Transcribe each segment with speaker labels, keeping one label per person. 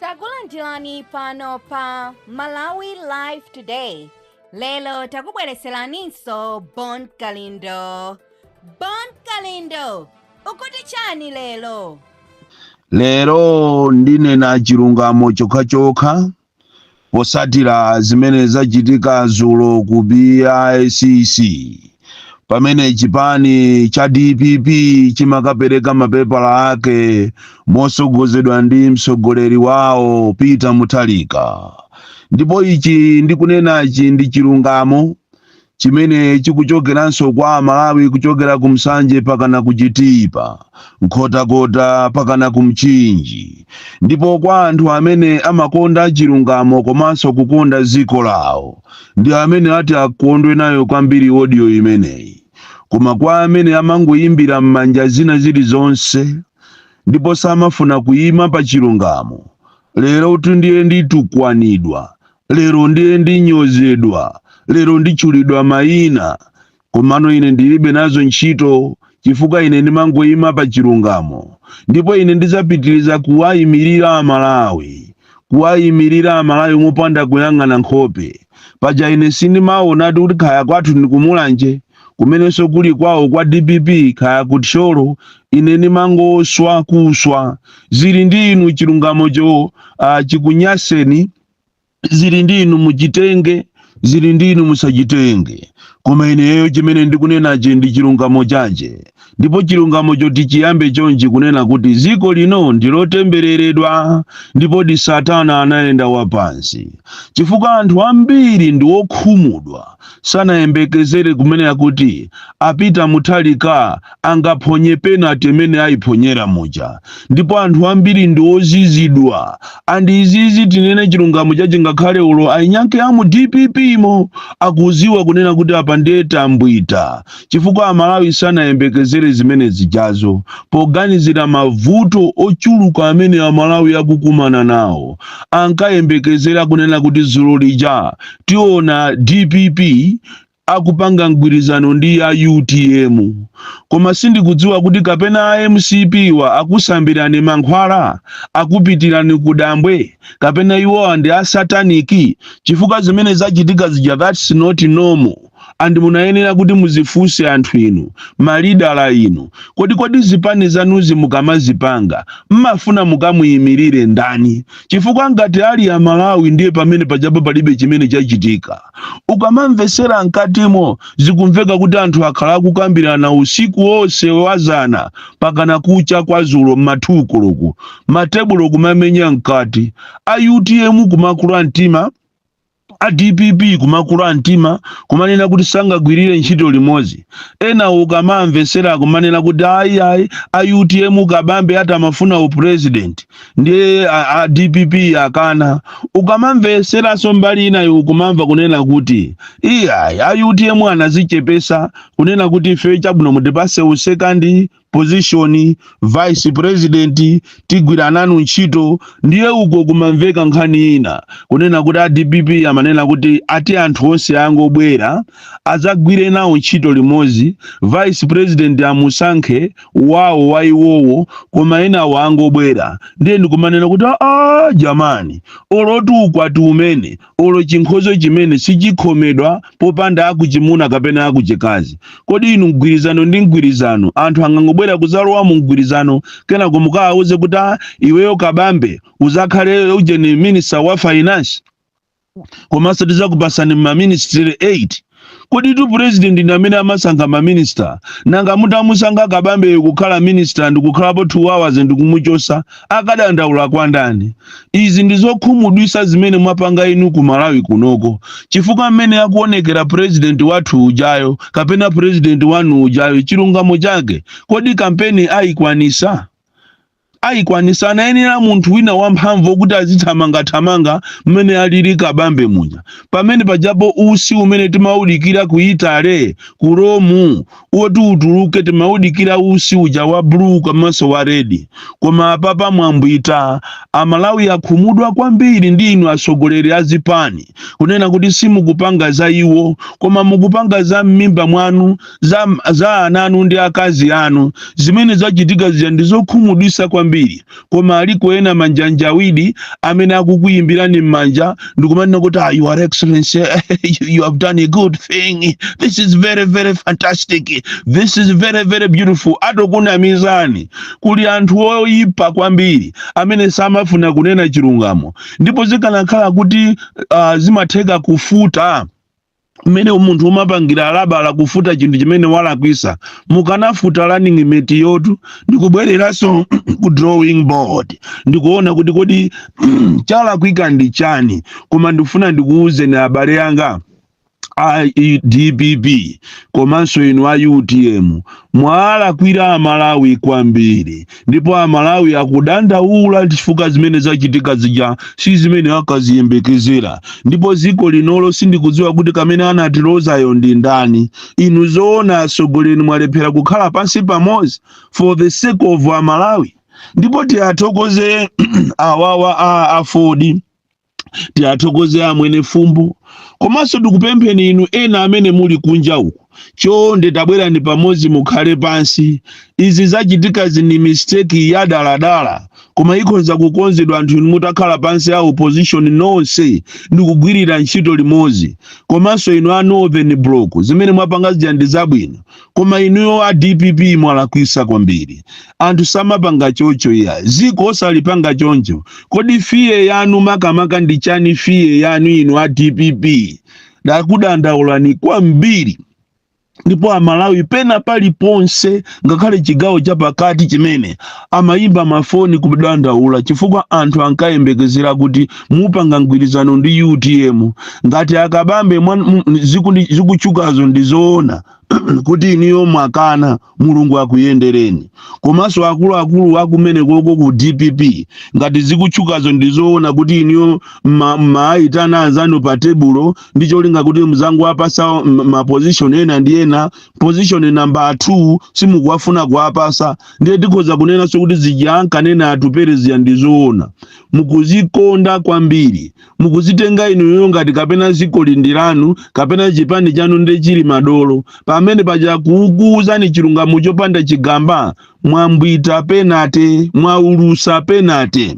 Speaker 1: takulandirani pano pa malawi live today lero takubwereseraninso bon kalindo bon kalindo ukuti chani lero lero
Speaker 2: ndinene chilungamo chokhachokha potsatira zimene zachitika dzulo ku bicc pamene chipani cha dpp chimakapereka mapepala ake motsogozedwa ndi mtsogoleri wawo peter mutharika ndipo ichi ndikunenachi ndi chilungamo chimene chikuchokeranso kwa amalawi kuchokera ku nsanje pakana ku chitipa nkhotakota pakana ku mchinji ndipo kwa anthu amene amakonda chilungamo komanso kukonda dziko lawo ndi amene ati akondwe nayo kwambiri audio imeneyi koma kwa amene amangoyimbira m'manja zina zilizonse ndipo samafuna kuyima pa chilungamo lerotu ndiye nditukwanidwa lero ndiye ndinyozedwa lero nditchulidwa mayina komano ine ndilibe nazo ntchito chifukwa ine ndimangoyima pa chilungamo ndipo ine ndidzapitiriza kuwayimirira amalawi kuwayimirira amalawi mopanda kuyang'ana nkhope paja ine sindimaonadi kuti kaya kwathu ndi kumulanje kumenenso kuli kwawo kwa dpp kaya kuthyolo ine ndimangoswa kuswa zili ndi inu chilungamocho uh, chikunyaseni zili ndi inu muchitenge zili ndi inu musachitenge koma ineyo chimene ndikunenachi ndi chilungamo chache ndipo chilungamo choti chiyambe chonchi kunena kuti dziko lino ndilotembereredwa ndipodi satana anayenda wapansi chifukwa anthu ambiri ndi wokhumudwa sanayembekezere kumene kuti a Peter Mutharika angaphonye penate imene ayiphonyera muja ndipo anthu ambiri ndi ozizidwa and izizi tinene chilungamo chake ngakhale olo ainyanke a mu dppmo akudziwa kunena kuti apa ndiye tambwita chifukwa amalawi sanayembekezere zimene zijazo poganizira mavuto ochuluka amene amalawi akukumana nawo ankayembekezera kunena kuti dzulo lija tiona dpp akupanga mgwirizano ndi a utm koma sindikudziwa kuti kapena a mcpwa akusambirani mankhwala akupitirani ku dambwe kapena iwowa ndi asataniki chifukwa zimene zachitika zija that's not normal and munayenera kuti muzifunse anthu inu ma lidala inu kodi kodi zipani zanuzi mukamazipanga mmafuna mukamuyimilire ndani chifukwa ngati ali amalawi ndiye pamene pajapo palibe chimene chachitika ukamamvesera mkatimo zikumveka kuti anthu akhala akukambirana usiku wonse wazana mpakana kucha kwazulo m'ma 2 koloko matebulo kumamenya mkati a utm kumakula mtima a dpp kumakula mtima kumanena kuti sangagwirire ntchito limodzi ena ukamamvetsera kumanena kuti ayi ayi a utm kabambe atamafuna upresident ndiye a, a dpp akana ukamamvetseranso mbali inayo ukumamva kunena kuti iyayi a utm anazichepesa kunena kuti ife chabwino mutipatse usekandi position vice president tigwira nanu ntchito ndiye uko kumamveka nkhani ina kunena kuti a dpp amanena kuti ati anthu onse angobwera adzagwire nawo ntchito limodzi vice president amusankhe wawo wa iwowo koma enawo angobwera ndiye ndikumanena kuti aa jamani olo ukwati umene olo chinkhoswe chimene sichikhomeredwa popanda akuchimuna kapena akuchikazi kodi inu mgwirizano ndi mgwirizano anthu angangobwera kuzalowa mu mgwirizano kenako mukawauze kuti "Ah, iweyo kabambe uzakhale ujeni minista wa finance komanso tizakupasani maministry 8 Koditu president ndi amene amasankha ma minister, nanga mutamusankha Kabambeyo kukhala minister ndikukhalapo 2 hours ndikumuchosa, akadandaula kwa ndani? Izi ndi zokhumudwisa zimene mwapanga inu ku Malawi kunoko, chifukwa mmene akuonekera president wathu ujayo kapena president wanu ujayo chilungamo chake kodi kampeni aikwanisa? Aikwanisa? Anayenera munthu wina wamphamvu okuti azithamanga thamanga mmene alili kabambe muja pamene pajapo usi umene timaudikira ku Italy ku Rome oti utuluke timaudikira usi uja wa blue komanso wa red koma apapa mwambwita amalawi akhumudwa kwambiri ndi inu atsogoleri a zipani kunena kuti simukupanga za iwo koma mukupanga za mmimba mwanu za, za ana anu ndi akazi anu zimene zachitika zija ndi zokhumudwisa kwambiri koma aliko ena manjanjawidi amene akukuyimbirani m'manja ndikumanena kuti ah, your excellency you, you have done a good thing this is very very fantastic this is very very beautiful atokunamizani kuli anthu oyipa kwambiri amene samafuna kunena chilungamo ndipo zikanakhala kuti uh, zimatheka kufuta mmene munthu umapangira alabala kufuta chinthu chimene walakwisa mukanafuta running mate-yotu ndikubwereranso ku drawing board ndikuona kuti kodi chalakwika ndi chani koma ndikufuna ndikuwuzeni abale anga a dpp komanso inu a utm mwawalakwira amalawi kwambiri ndipo amalawi akudandaula chifukwa zimene zachitika zija si zimene akaziyembekezera ndipo dziko linolo sindikudziwa kuti kamene anatilozayo ndi ndani inu zoona atsogoleri mwalephera kukhala pansi pamodzi for the sake of amalawi ndipo tiathokoze awawa a aford tiathokoze a mwenifumbo komanso tikupempheni inu ena amene muli kunja uku chonde tabwerani pamodzi mukhale pansi izi zachitikazi ndi mistake yadaladala koma ikhonza kukonzedwa anthu inu mutakhala pansi a opposition nonse ndikugwirira ntchito limodzi komanso inu a northern bloc zimene mwapanga zija ndi zabwino koma inuyo a dpp mwalakwisa kwambiri anthu samapanga choncho iyayi dziko osalipanga choncho kodi fear yanu makamaka ndi chani fear yanu inu a dpp ndakudandaulani kwambiri ndipo amalawi pena paliponse ngakhale chigawo chapakati chimene amayimba mafoni kudandaula chifukwa anthu ankayembekezera kuti mupanga mgwirizano ndi utm ngati a kabambe mwan- m- zikundi- zikutchukazo ndi zoona kuti inuyo mwakana mulungu akuyendereni komanso akuluakulu akumenekoko ku dpp ngati zikutchukazo ndizoona kuti inuyo mma- mmaayitana anzanu pa tebulo ndi cholinga kuti muzangowapatsa m- mapozishoni ena ndi ena pozishoni namba 2 simukufuna kuwapatsa ndiye tikhoza kunenanso kuti zija ankanena atupele zija ndizoona mukuzikonda kwambiri mukuzitenga inuyo ngati kapena dziko ili ndi lanu kapena chipani chanu nde chili madolo pamene paja kukuuzani chilungamo chopanda chigamba mwambwita penalty mwaulutsa penalty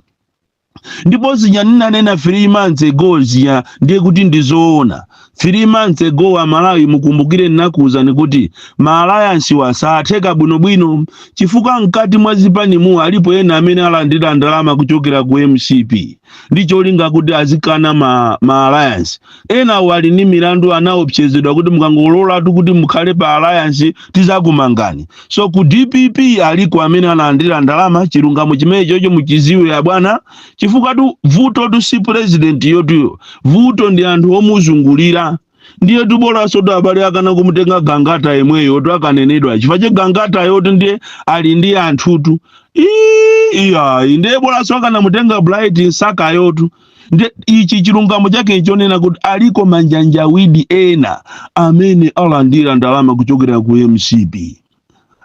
Speaker 2: ndipo zija ndinanena 3 months ago zija ndiye kuti ndizoona 3 months ago amalawi mukumbukire ndinakuuzani kuti maalayansiwa satheka bwinobwino chifukwa mkati mwa zipanimu alipo ena amene alandira ndalama kuchokera ku mcp ndi cholinga kuti azikana ma, ma alliance ena ali ndi milandu anaopsezedwa kuti mukangololatu kuti mukhale pa alliance tizakumangani so ku dpp aliko amene analandira ndalama chilungamo chimenechocho muchidziwe abwana chifukwatu vutotu si president-yotu iyayi vuto ndi anthu omuzungulira ndiye tu bolanso tu abale akana kumutenga gangata yemweyotu akanenedwa chifukwa chake gangatayotu ndiye ali ndi anthutu Ii, iyayi ndiye bolanso akanamutenga bright msakayotu nde ichi chilungamo chake nchonena kuti aliko ma change agent ena amene alandira ndalama kuchokera ku mcp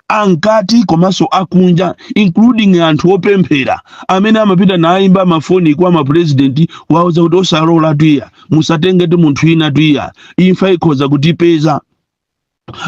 Speaker 2: amkati komanso akunja including anthu opemphera amene amapita nayimba mafoni kwa mapurezidenti kuwauza kuti osalolatu iyayi musatengetu munthu winatu iyayi imfa ikhoza kutipeza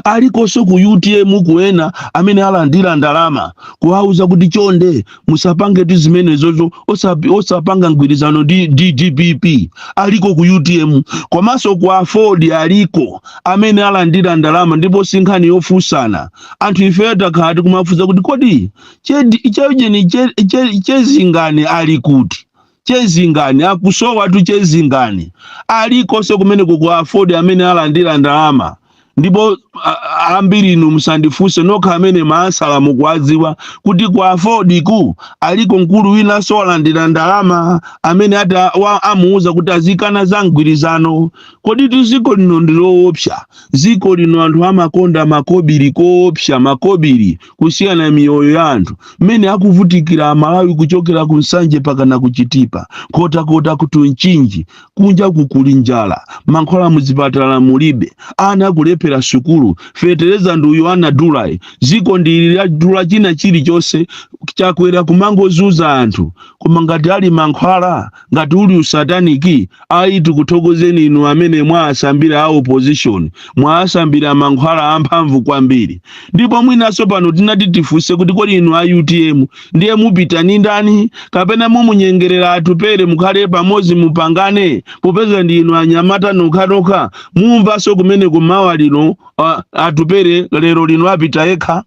Speaker 2: alikonso ku utm kuli ena amene alandira ndalama kuwauza kuti chonde musapangetu zimenezozo osapi- osapanga mgwirizano ndi ndi dpp aliko ku utm komanso ku aford aliko amene alandira ndalama ndipo si nkhani yofunsana anthu ifeyo takhala tikumafunsa kuti kodi chedi- chejeni che- che- chezingani ali kuti chezingani akusowatu chezingani alikonso kumeneku ku aford amene alandira ndalama ndipo a- a- ambirinu musandifunse nokha amene mwatsala mukuwadziwa kuti ku afordku aliko mkulu winanso walandira ndalama amene ati a- wa- amuuza kuti azikana za mgwirizano koditu ziko lino ndi loopsa ziko lino anthu amakonda makobiri koopsa makobiri kusiyana miyoyo ya anthu mmene akuvutikira amalawi kuchokera ku nsanje pakana kuchitipa nkhotakota ku ntchisi mchinji kunja kunoku kuli njala mankhwala muzipatala mulibe ana akulephera sukulu fetereza ndi uyu anadulayi ziko ndili ladula china chilichonse chakwera kumangozuza anthu koma ngati ali mankhwala ngati uli usataniki ayi tikuthokozeni inu amene mwaasambira a opposition mwaasambira mankhwala amphamvu kwambiri ndipo mwinanso pano tinati tifunse kuti kodi inu a utm ndiye mupita ni ndani kapena mumunyengerera atupere mukhale pamodzi mupangane popeza ndi inu anyamata nokhanokha mumvanso kumene kummawa kuno ah, atupere lero lino apita yekha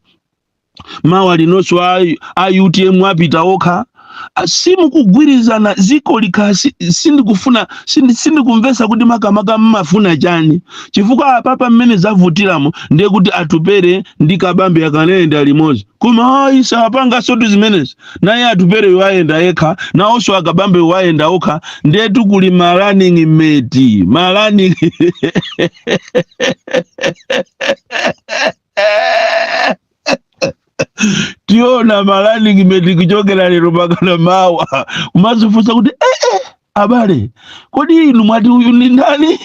Speaker 2: mawa linonso a, a utm apita okha Ah, simukugwirizana ziko likasi- sindikufuna sindi- sindikumvesa kuti makamaka mmafuna chani chifukwa apapa mmene zavutiramu ndiye kuti atupere ndi kabambe akanayenda limodzi koma ayi sapangansotu zimenezi naye atupere wayenda yekha nawonso akabambe ayenda okha ndiye tu kuli ma running mate ma running tiona ma running mate kuchokera lero pakana mawa kumazifunsa kuti eh, eh, abale kodi inu mwati uyu ndi ndani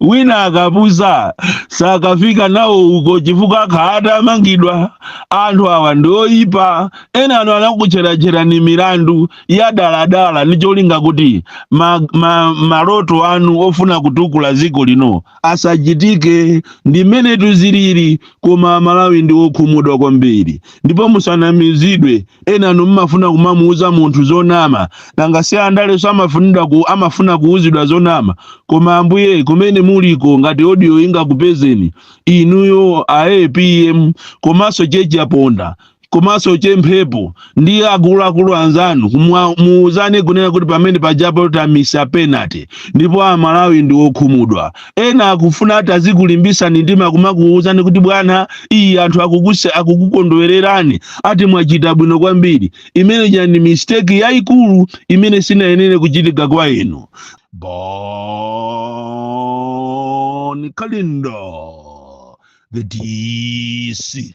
Speaker 2: wina akapusa sakafika nawo uko chifukwa akhala atamangidwa anthu awa ndi oyipa enanu anakutcherani tcherani milandu ya daladala ndi cholinga kuti ma, ma, maloto anu ofuna kutukula dziko lino asachitike ndi mmene tuziliri koma amalawi ndi okhumudwa kwambiri ndipo musanamizidwe enanu mmafuna kumamuuza munthu zonama nanga si andalenso amafunidwa ku, amafuna kuuzidwa zonama koma ambuye kumene muliko ngati odiyo ingakupezeni inuyo a apm komanso Che Chaponda komanso che mphepo ndi akuluakulu anzanu kumwa- muuzane kunena kuti pamene pajapo tamisa penalty ndipo amalawi ndi okhumudwa ena akufuna atazikulimbisani mtima kumakuuzani kuti bwana iyi anthu akukuse akukukondwererani ati mwachita bwino kwambiri imene ja ndi mistake yayikulu imene sinayenere kuchitika kwa inu bon kalindo the dc